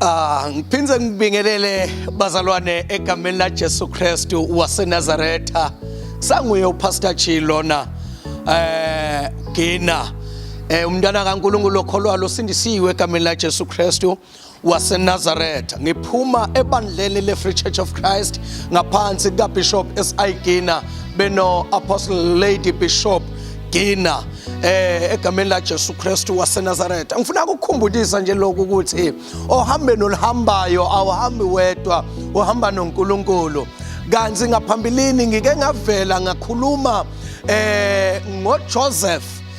Ah, ngiphinde ngibingelele bazalwane egameni la Jesu Kristu waseNazaretha. Sanguye uPastor Chi lona eh Gina. Eh umntana kaNkulunkulu okholwayo usindisiwe egameni la Jesu Kristu. waseNazaretha ngiphuma ebandleni le-Free Church of Christ ngaphansi kaBishop SI Gina beno Apostle Lady Bishop Gina eh egameni la Jesu Kristu waseNazaretha ngifuna ukukhumbulisa nje lokhu ukuthi ohambeni oluhambayo awuhambi wedwa uhamba noNkulunkulu kanti ngaphambilini ngike ngavela ngakhuluma eh ngoJoseph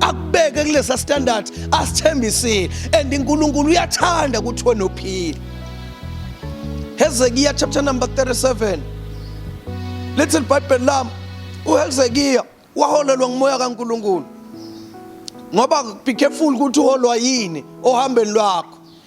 akubeke kulesa standard asithembisile and uNkulunkulu uyathanda ukuthi wena uphile Hezekiya chapter number 37 lithi libhayibheli lami uHezekiya waholelwa ngumoya kaNkulunkulu ngoba be careful ukuthi uholwa yini ohambeni lwakho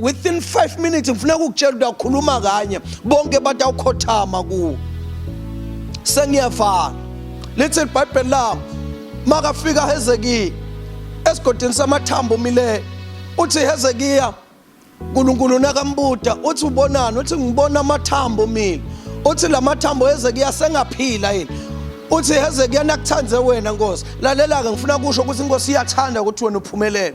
within 5 minutes ngifuna ukukutshela ukuthi awukhuluma kanye bonke bathi awukhothama kuwo sengiyavala lithi ibhayibheli lami makafika hezekiya esigodini samathambo umileyo uthi hezekiya uNkulunkulu nakambuda uthi ubonani uthi ngibona amathambo mina uthi lamathambo Hezekiya sengaphila yini uthi Hezekiya nakuthande wena Nkosi lalela ke ngifuna kusho ukuthi inkosi iyathanda ukuthi wena uphumelele